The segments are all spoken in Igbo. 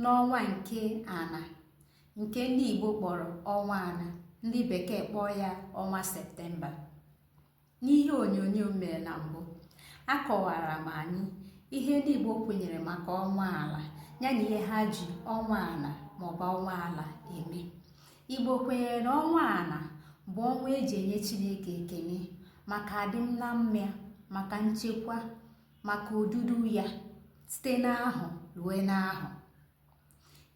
n'ọnwa nke ana nke ndị Igbo kpọrọ ọnwa ana ndị bekee kpọọ ya ọnwa septemba n'ihe onyonyo m mere na mbụ akọwara m anyị ihe ndị Igbo kwenyere maka ọnwa ala ya na ihe ha ji ọnwa ana maọbụ ọnwa ala eme Igbo kwenyere na ọnwa ana bụ ọnwa eji enye Chineke ekele maka adịm na mma ya maka nchekwa maka odudu ya site n'ahụ rue n'ahụ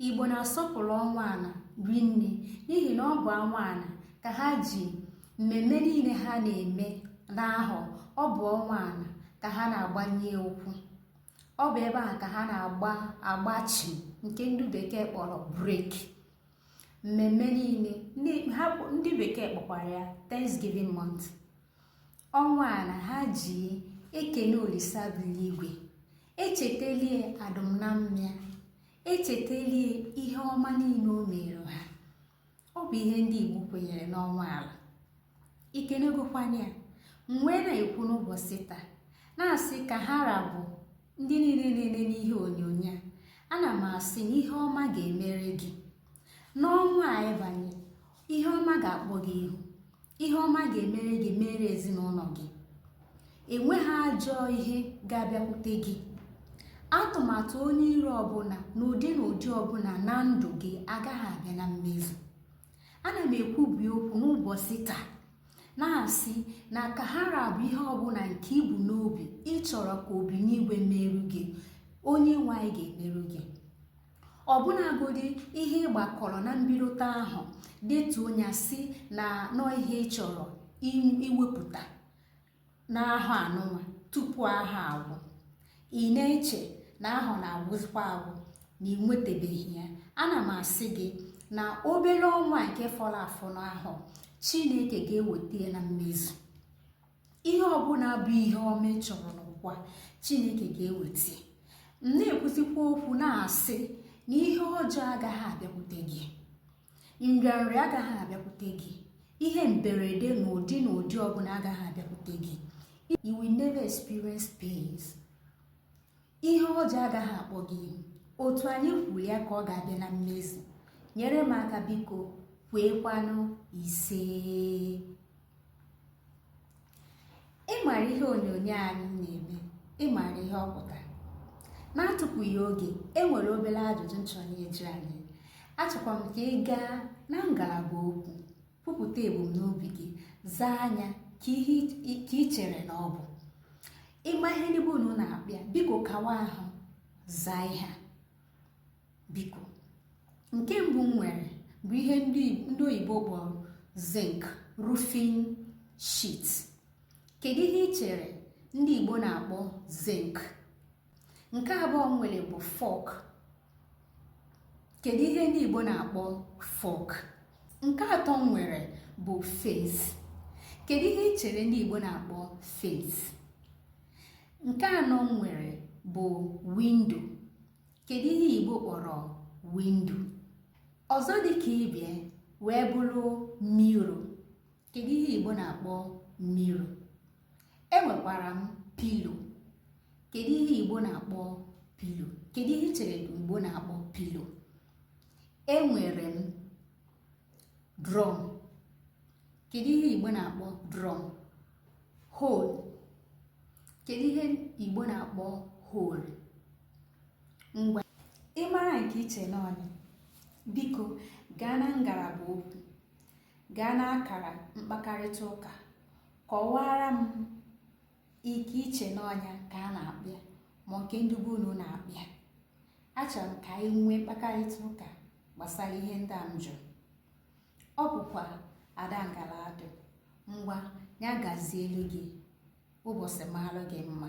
igbo na-asọpụrụ ọnwa ana rinne n'ihi na ọ bụ ọnwa ana ka ha ji mmemme niile ha na-eme n'ahụ ọ bụ ọnwa ana ka ha na-agbanye ụkwụ ọ bụ ebe a ka ha na-agba agbachi nke ndị bekee kpọrọ break mmemme niile ndị bekee kpọkwara ya Thanksgiving month ọnwa ana ha ji ekene olisa bi n'igwe echetalie adịm na mma ya echetalie ihe ọma niile o mere ha ọ bụ ihe ndị igbo kwenyere n'ọnwa ala ikenegokwanye ya m wee na-ekwu n'ụbọchị taa na-asị ka ha ra bụ ndị niile na-ele n'ihe onyonyo a ana m asị na ihe ọma ga-emere gị n'ọnwa a ịbanye ihe ọma ga-akpọ gị ihu ihe ọma ga-emere gị mere ezinụlọ gị enweghị ajọ ihe ga-abịakwute gị atụmatụ onye iro ọbụla n'ụdị na ụdị ọbụla na ndụ gị agaghị abịa na mmezu ana m ekwubi okwu n'ụbọchị taa na-asị na ka ha ra bụ ihe ọbụla nke ibu n'obi ịchọrọ ka obi n'igwe meru gị onye nwe anyị ga-emeru gị ọbụnagodi ihe ịgbakọrọ na mbidote ahụ detuo ya sị na nọ ihe ị chọrọ iwepụta n'ahụ anụnwa tupu ahụ agwụ ị na-eche na ahụ na-agwụzikwa agwụ na ị nwetabeghị ya ana m asị gị na obere ọnwa nke fọrọ afọ n'ahụ chineke ga-eweta ya na mmezu ihe ọbụla bụ ihe ọma ị chọrọ n'ụwa chineke ga-eweta m na-ekwuzikwa okwu na-asị na ihe ọjọọ agaghị abịakwute gị nrịanrịa agaghị abịakwute gị ihe mberede n'ụdị na ụdị ọbụla agaghị abịakwute gị you will never experience pains ihe ọjọọ agaghị akpọ gị ihu otu anyị kwuru ya ka ọ ga-abịa na mmezu nyere m aka biko kweekwanụ ise ịmara ihe onyonyo anyị na-eme ịmara ihe ọ pụtara n'atụfughị oge e nwere obere ajụjụ m chọrọ ịjụ anyị achọkwa m ka ị gaa na ngalaba okwu kwupụta ebumnobi gị zaa nya ka ị chere na ọ bụ ị ma ihe ndị be unu na-akpọ ya biko kawa ahụ zaa ihe a biko nke mbụ m nwere bụ ihe ndị oyibo kpọrọ zinc roofing sheet kedu ihe ị chere ndị igbo na-akpọ zinc nke abụọ m nwere bụ fork kedu ihe ndị Igbo na-akpọ fork nke atọ m nwere bụ face kedu ihe ị chere ndị Igbo na-akpọ face nke anọ m nwere bụ window kedu ihe Igbo kpọrọ window ọzọ dị ka ibe ya wee bụrụ mirror kedu ihe igbo na-akpọ mirror enwekwara m pillow kedu ihe igbo na-akpọ pillow kedu ihe ị chere igbo na-akpọ pillow enwere m drum kedu ihe igbo na-akpọ drum hole kedu ihe igbo na-akpọ hole ngwa ị mara nke i che na ọ nya biko gaa na ngalaba okwu gaa n'akara mkpakarịta ụka kọwaara m nke i che na ọ nya ka a na-akpọ ya ma nke ndị be unu na-akpọ ya achọrọ m ka anyị nwee mkpakarịta ụka gbasara ihe ndị a m jụrụ ọ bụkwa ada ngala adụ ngwa nya gazielu gị ụbọsị mara gị mma